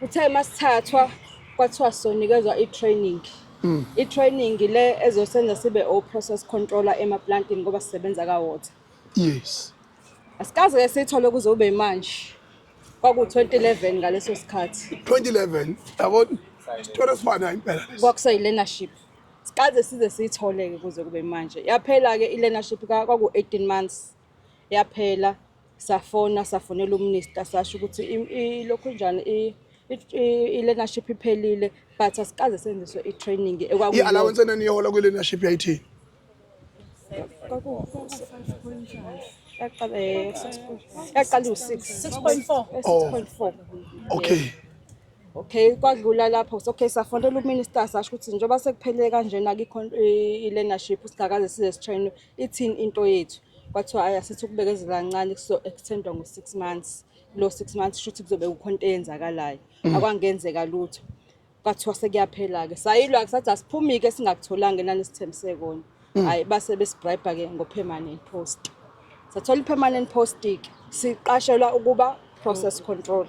Uthe masithathwa kwathiwa sonikezwa i-training mm. i-training le ezosenza sibe o-process controller emaplantini ngoba sisebenza ka-water yes asikaze ke sithole kuze ube manje kwaku-2011 ngaleso sikhathi 2011 yabona isitolo esifana impela kwakuseyi-learnership sikaze size siyithole-ke kuze kube manje yaphela-ke i-learnership kwaku-18 months yaphela safona safonela uminista sasho ukuthi ilokhu njani i-learnership iphelile but asikaze senziswe i-training i-allowance enaniyohola kwi-learnership yayithini yaqala eh, u-six six point four oh. okay okay kwadlula lapho okay safonela uminister sasho ukuthi njengoba sekuphele kanjena kikho i-learnership singakaze size sitrain Ithini into yethu? Kwathiwa ayi asithi ukubekezela kancane kuzo-extendwa ngo-six months. Kulo six months shuthi kuzobe kukhona into eyenzakalayo. Mm. Akwangenzeka lutho. Kwathiwa sekuyaphela-ke. Sayilwa-ke sathi asiphumi-ke singakutholanga enani esithembise kona. Mm. Hhayi base besibribe-ke ngo-permanent post. Sathola i-permanent post-ke siqashelwa ukuba process control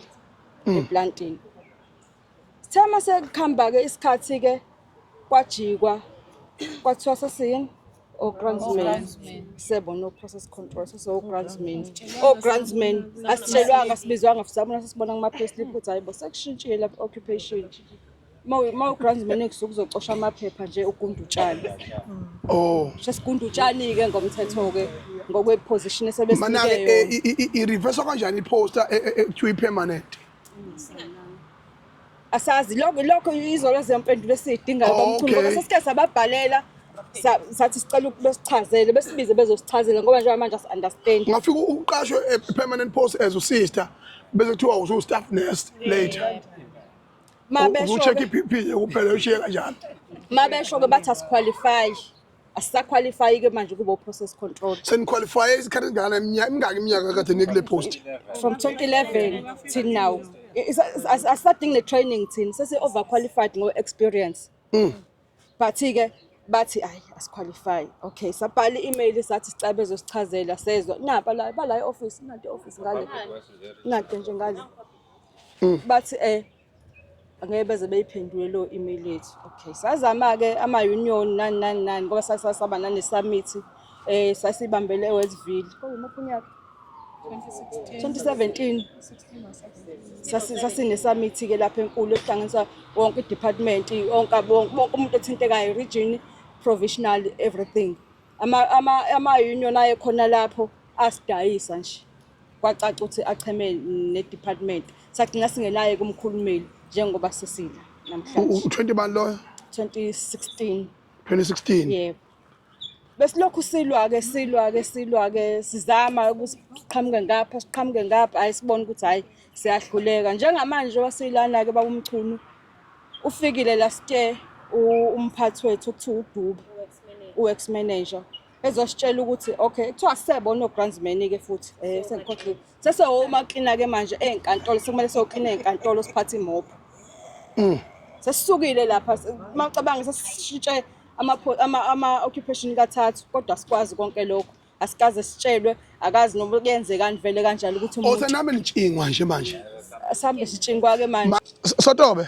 mm. eplantini. Sithe uma sekuhamba-ke isikhathi-ke kwajikwa kwathiwa sesiyini o-grandsman sebona o-process control sesiwo-grandsman o-grandsman asitshelwanga sibizwanga sabona sesibona kuma-payslip ukuthi hayi bo sekushintshile lapha occupation uma u-grandsman ekusuke uzocosha amaphepha nje ugunda utshani oh sesigunda utshani-ke ngomthetho-ke ngokwe-position mana-ke esebesinikeyona i-reverse kanjani i-poster e- e- e- kuthiwa i-permanent asazi lokho lokho izolo zempendulo esiyidingayo Oh, bamkhulu ngoba okay. sesike sababhalela sa- sathi sicela ukuba sichazele besibize bezosichazela ngoba njengoba manje asi-understand ungafika uqashwe e-permanent post as usister bese kuthiwa usu-staff nurse later ma U- uzu-check besho-ke i-pp nje kuphela ushiye kanjalo ma besho-ke bathi asikhwalifayi asisaqualify-ke manje kube u-process control seniqualifye isikhathi esingana imingaki iminyaka kade nikule post from 2011 till now asisadingi ne-training thina sesi-overqualified ngo-experience mm. but-ke bathi ayi asiqualify okay sabhala i-email sathi sicabe zosichazela sezwa napa la bala e-office inade office ngale inade nje ngale mm. bathi um angeke beze beyiphendule leyo email yethu okay sazama-ke ama-union nani nani nani ngoba sasasaba nane-summit um eh, sasibambele ewestville kwawumuphi unyaka 2017 sasinesamithi-ke lapha enkulu ekuhlanganisa wonke i-department onke bonke umuntu othintekayo region provisional everything ama-union ayekhona lapho asidayisa nje Kwacaca ukuthi acheme nedepartment sagcina singelaye kumkhulumeli njengoba sesila namhlanje. U-20 bani loyo? 2016. 2016. Yebo. Besilokhu silwa ke silwa ke silwa ke sizama ukuthi siqhamuke ngapha siqhamuke ngapha ayisibona ukuthi hayi siyahluleka njengamanje wasilana ke babumchunu ufikile last year umphathi wethu okuthiwa uDube uex manager ezositshela ukuthi okay kuthiwa sisebo onograndsman-ke futhi um eh, sengikhohlile sesewomaclina-ke manje ey'nkantolo sekumele sewoclina ey'nkantolo siphathe imobho mm. sesisukile lapha macabanga sesishintshe ama-occupation kathathu kodwa sikwazi konke lokho asikaze sitshelwe akazi noma kuyenzekani vele kanjalo ukuthi umuntu osenami nitshingwa nje manje sambe sitshingwa-ke manje sotobe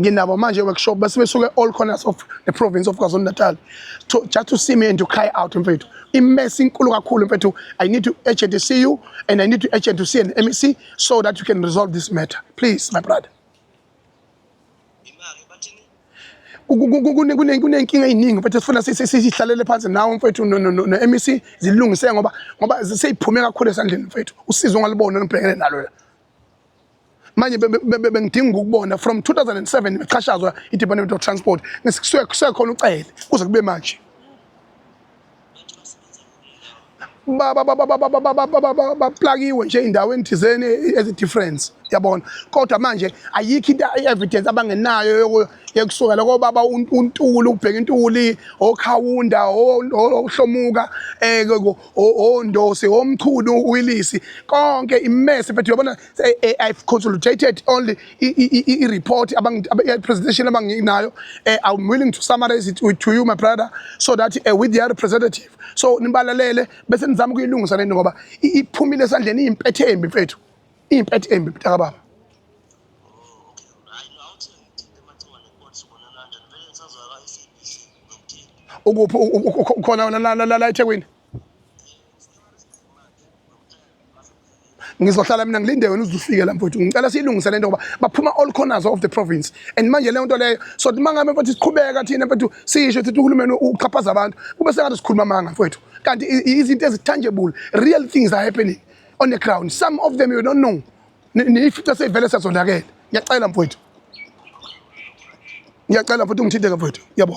nginabo manje workshop base besuke all corners of the province of KwaZulu-Natal to just to see me and to cry out mfethu imess inkulu kakhulu mfethu i need to urgent to see you and i need to urgent to see an MEC so that you can resolve this matter please my brother kunenkinga eyiningi mfethu sifuna sihlalele phansi nawe mfethu no-mec zilungiseke ngoba ngoba seyiphume kakhulu esandleni mfethu usizo ongalibona olubhekene nalo la manje bengidinga ukukubona from 2007 ngixhashazwa i-department of transport kusekhona ucele kuze kube manje baplakiwe nje endaweni thizeni ezi-difference yabona kodwa manje ayikho into i-evidence abangenayo yekusukela kobaba untuli ubheka intuli okhawunda ohlomuka um ondose omchunu uwilisi konke imese but uyabona i've consolidated only i-report i-presentation abanginayo eh, i'm willing to summarize it to you my brother so that uh, with their representative so nibalalele bese nizama ukuyilungisa lento ngoba iphumile esandleni iyimpethe embi mfethu iyimpethe embi mntakababa ukuphi ukhona wena la la la eThekwini ngizohlala mina ngilinde wena uzufike la mfowethu ngicela siyilungise lento ngoba baphuma all corners of the province and manje leyo nto leyo so uma ngabe mfowethu siqhubeka thina mfowethu sisho ukuthi uhulumeni uxhaphaza abantu kube sengathi sikhuluma amanga mfowethu kanti izinto ezi-tangible real things are happening on the ground some of them you don't know niyifice seyivele sezonakele ngiyacela mfowethu ngiyacela mfowethu ungithinte-ke mfowethu yabo